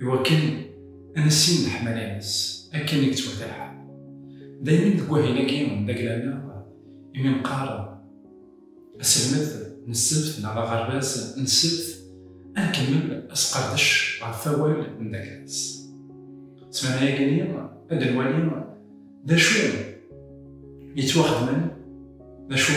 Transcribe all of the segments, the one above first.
i wakken ad nissin leḥmala-ines akken i yettwata lḥal. Daymi deg wahil-agi d agla-nneɣ imi neqqar aselmed n ssebt neɣ aɣerbaz n ssebt, ad nkemmel asqerdec ɣef awal n Daklas. Ssmana-agi-nni ad d-nwali d acu yettwaxedmen d acu.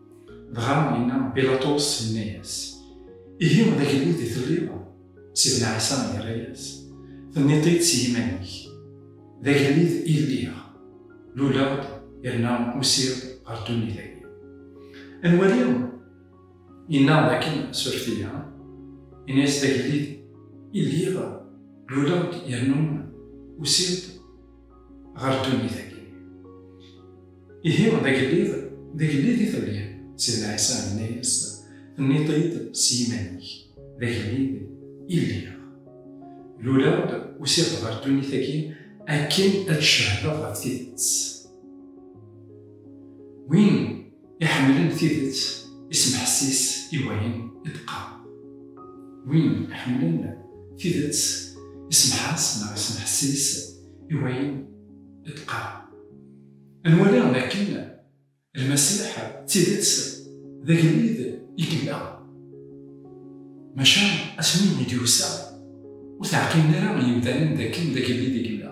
Dɣa yenna Bilaṭus, yenna-yas, Ihi d agellid i telliḍ? Sidna Ɛisa yerra-yas, Tenniḍ-t-id si yiman-ik, d agellid i lliɣ, luleɣ-d yerna usiɣ ɣer ddunit-agi. Ad nwali, yenna dakken suref-iyi, yenna-yas, d agellid i lliɣ, luleɣ-d yerna usiɣ-d ɣer ddunit-agi. Ihi, d agellid, d agellid i telliḍ. Sidna Ɛisa yenna-yas, Tenniḍ-t-id s yiman-ik, d agellid i lliɣ. Luleɣ-d, usiɣ-d ɣer ddunit-agi akken ad d-cehdeɣ ɣef tidet. Win Iḥemmlen tidet isemḥessis i wayen i d-teqqar. Win iḥemmlen tidet isemḥas neɣ isemḥessis i wayen i d-teqqar. Ad nwali dakken Lmasiḥ d tidet d agellid i yella. Maca asmi i d-yusa, ur teɛqilen ara yimdanen dakken d agellid i yella.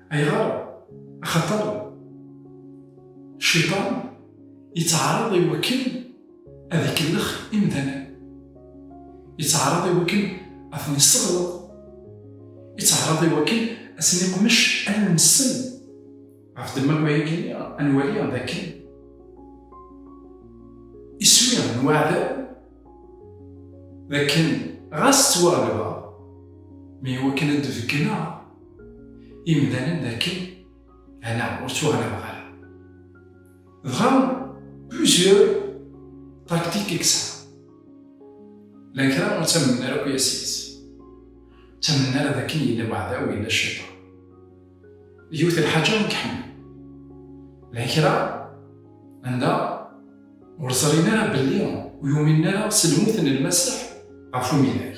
Ayɣer? Axaṭer Cciṭan yettɛaraḍ i wakken ad ikellex imdanen, yettɛaraḍ i wakken ad ten-isseɣleḍ, yettɛaraḍ i wakken ad ten-iqmec allen-nsen. Ɣef ddemma n wayagi-nni, ad nwali d akken iswi n waɛdaw d akken ɣas ttwaɣelbeɣ, mi iwakken ad d-beggneɣ, imdanen dakken ala ur ttuɣalabeɣ ara. Dɣa plusieurs tactiques i yesɛa. Llan kra ur ttamnen ara akk yas-is. Ur ttamnen ara dakken yella weɛdaw, yella cciṭan. Yiwet n lḥaǧa i iḥemmel. Llan kra anda ur ẓrin ara belli ur yuminen ara s lmut n Lmasiḥ ɣef umidag.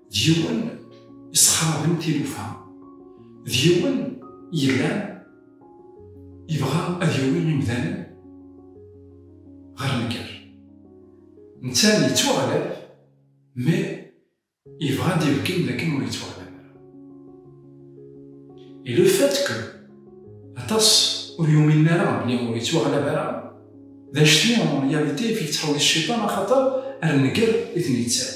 d yiwen yessexraben tilufa, d yiwen yellan yebɣa ad yawi imdanen ɣer nnger. Netta yettwaɣlab, mi yebɣa ad d-ibeggen dakken ur yettwaɣlab ara. Et le fait que aṭas ur yuminen ara belli ur yettwaɣlab ara, d anect-nni en réalité i t-yettḥewwis cciṭan axaṭer ar nnger i ten-yettawi.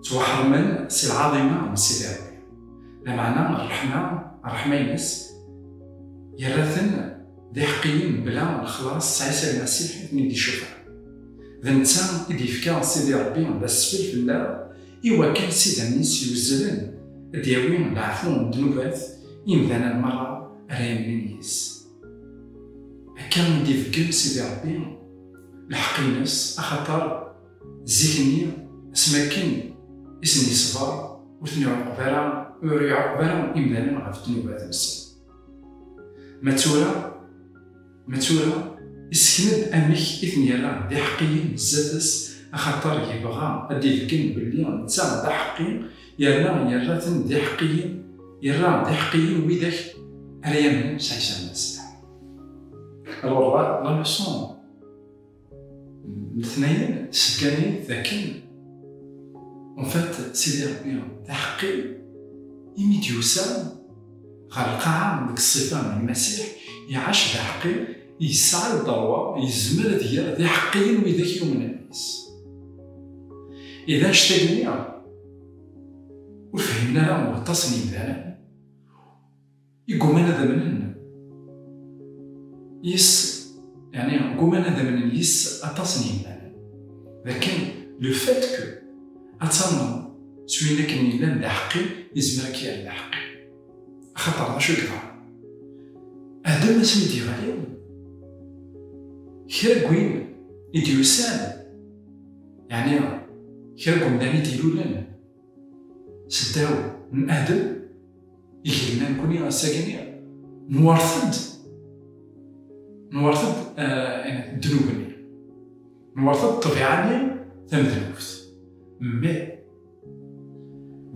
Ttwaḥeṛmen si lɛaḍima n Sidi Ṛebbi, lameɛna ṛṛeḥma, ṛṛeḥma-ines, yerra-ten d iḥeqqiyen mebla lexlaṣ s Ɛisa Lmasiḥ i ten-id-icuffeɛ. D netta i d-yefka Sidi Ṛebbi d asfel fell-aɣ i wakken s idammen-is yuzzlen ad d-yawi leɛfu n ddnubat imdanen meṛṛa ara yemmnin yis-s. Akka i d-ibeggen Sidi Ṛebbi lḥeqq-ines axaṭer, Zik-nni, asmi akken i sen-yeṣber, ur ten-iɛuqeb ara, ur iɛuqeb ara imdanen ɣef ddnubat-nsen. Ma tura, ma tura, issken-d amek i ten-yerra d iḥeqqiyen zdat-s, axaṭer yebɣa ad d-ibeggen belli netta d aḥeqqi, yerna yerra-ten d iḥeqqiyen, yerra d iḥeqqiyen widak ara yamnen s Ɛisa Lmasiḥ. Alors, la, la leçon. letnayen seggan-iyi-d dakken en fait Sidi Rebbi d aḥeqqi imi d-yusa ɣer lqaɛa deg ṣṣifa n Lmasiḥ iɛac d aḥeqqi yesɛa lderwa yezmer ad ger d iḥeqqiyen widak yumnen deg-s i d anect-agi ur fhimen ara waṭas n yimdanen Igguman ad amnen yes, yeɛni gguman ad amnen yes aṭas n yimal, d akken le fait que ad tamneḍ s win akken yellan d aḥeqqi yezmer ad k-yerr d aḥeqqi. Axaṭer d acu i yeḍran? Adem asmi i d-yeɣli kra n win i d-yusan, yeɛni kra n wemdan i d-ilulen, seddaw n Adem, igelman kuni asagini, nwert-d, nwert-d eh, ddnub-nni, nwert-d ṭṭbiɛa-nni tamednubt. Mmi,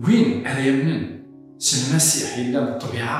win ara yamnen s lmasiḥ yellan ṭṭbiɛa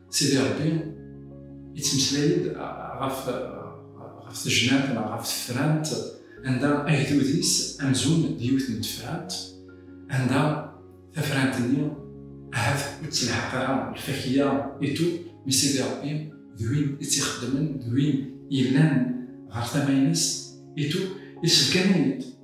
Sidi Ṛebbi yettmeslay-d ɣef tejnant neɣ ɣef tefrant anda agdud-is amzun d yiwet n tefrant anda tafrant-nni ahat ur ttelḥaq ara lfakya itu mi Sidi Ṛebbi d win i tt-ixeddmen d win yellan ɣer tama-ines itu yesbeggan-iyi-d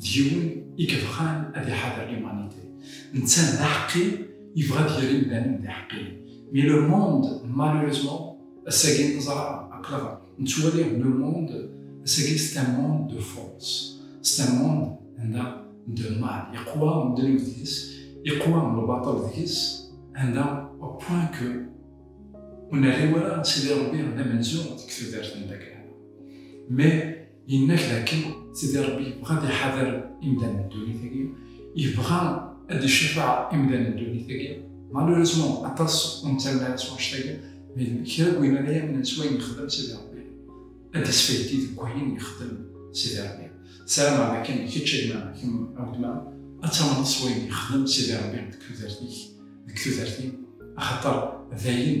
d yiwen i yebɣan ad iḥader limanite, netta d aḥeqqi yebɣa ad yerr imdanen d iḥeqqiyen, mi le monde malheureusement ass-agi neẓra aql-aɣ nettwali le monde ass-agi c'est un monde de force, c'est un monde anda de mal yeqwa ddnub deg-s, yeqwa lbaṭel deg-s, anda au point que ur nerri ara Sidi Rebbi d amenzu deg tudert n Dakhla. Mais Yenna-k dakken Sidi Ṛebbi yebɣa ad iḥader imdanen n ddunit-agi, yebɣa ad icafeɛ imdanen n ddunit-agi. Malheureusement, aṭas ur nettamen ara s wanect-agi, mais kra n wayen ara yamnen s wayen yexdem Sidi Ṛebbi, ad d-isfaydi deg wayen yexdem Sidi Ṛebbi. Ssarameɣ dakken kečč a gma, kemm a weltma, ad tamneḍ s wayen yexdem Sidi Ṛebbi deg tudert-ik, deg tudert-iw, axaṭer dayen,